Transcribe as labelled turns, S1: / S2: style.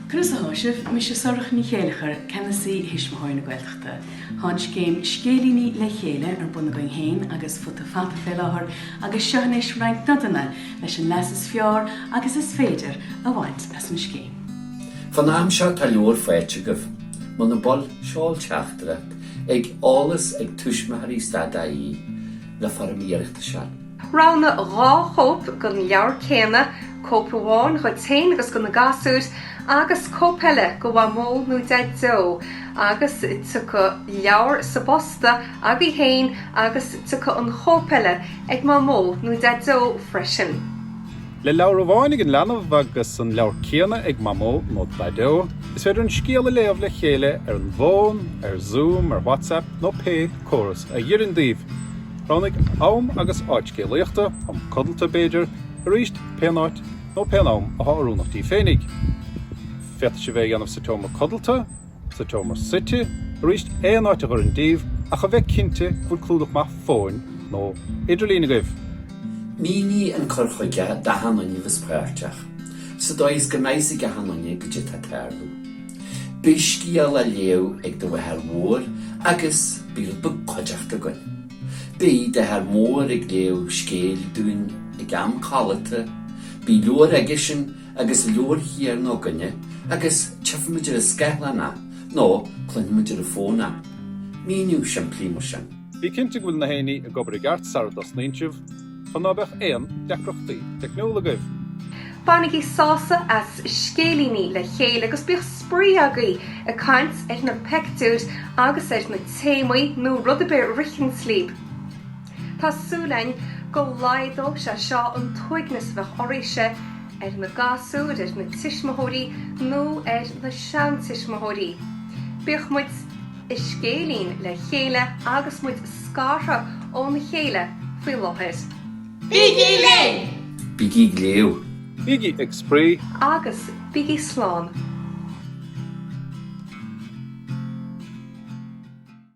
S1: Conas athá sibh, mise Sorcha Ní Chéilleachair, Ceannasaí Thuismitheoirí na Gaeltachta. Tá an scéim 'Scéilíní le Chéile' ar bun againn féin agus Futa Fata fé láthair agus seo anois roinnt nodanna leis an leas is fearr agus is féidir a bhaint as an scéim. Fán
S2: am seo tá leabhar faighte agaibh, muna bhfuil, seol teachtaireacht chuig eolas ag tuismitheoirí stad ie le foirm iarratais a. Roghnaigh
S3: dhá chóip den leabhar céanna, cóip amháin dhuit féin agus do na gasúir, agus cóip eile do Mhamó nó Deaideo, agus tiocfaidh leabhar sa bposta agaibh féin agus tiocfaidh an chóip eile ag Mamó nó Deaideo freisin.
S4: Le leabhar amháin ag an leanbh agus an leabhar céanna ag Mamó nó Daideo, is féidir an scéal a léamh le chéile ar an bhfón, ar Zoom, ar WhatsApp nó pé córas a dh'oireann daoibh. Roghnaigh am agus áit scéalaíochta, am codlata b'fhéidir, arís, pén áit nó pén am athá oiriúnach díbh féinig. Féadfaidh sibh é a dhéanamh sa tseomra codlata, sa tseomra suite, arís, aon áit a dh'oireann díbh, ach a bheith cinnte go bhfuil clúdach maith fóin nó idirlín agaibh. Mínigh
S2: an cur chuige d'achan duine a bheas páirteach, sa dóigh is go mbeidh a fhios ag achan duine goidé atá ag tarlú. Beidh scéal á léamh ag do mháthair mhór agus beidh rud beag cuideachta againn. Beidh d'athair mór ag léamh scéil dúinn ag am codlata, beidh leabhar aigesean agus leabhar chéarna againne agus tífimid ar an scáileán é nó cluinfimid ar an fón é. Míniú simplí mar sin. Bí cinnte go bhfuil
S4: nach aon ní ag obair i gceart sara dtosnaíonn sibh. chun ná beadh aon deacrachtaí teicniúla agaibh.
S3: Bainigí sásamh as scéilíní le chéile agus bíodh spraoi agaibh ag caint ar na peictiúir agus ar na téamaí nó rud ar bith a ritheanns lib. Tá súil ainn go laghdóidh sé seo an t-uaigneas a bheadh oraibhse, ar na gasúir, ar na tuismitheoirí nó ar na seantuismitheoirí. Bíodh muid. i scéilín le chéile agus muid scartha óna chéile faoi láthair. Bígí linn!
S2: Bígí ag
S3: léamh!
S4: Bígí ag
S2: Spraoi!
S4: Agus bígí Slán!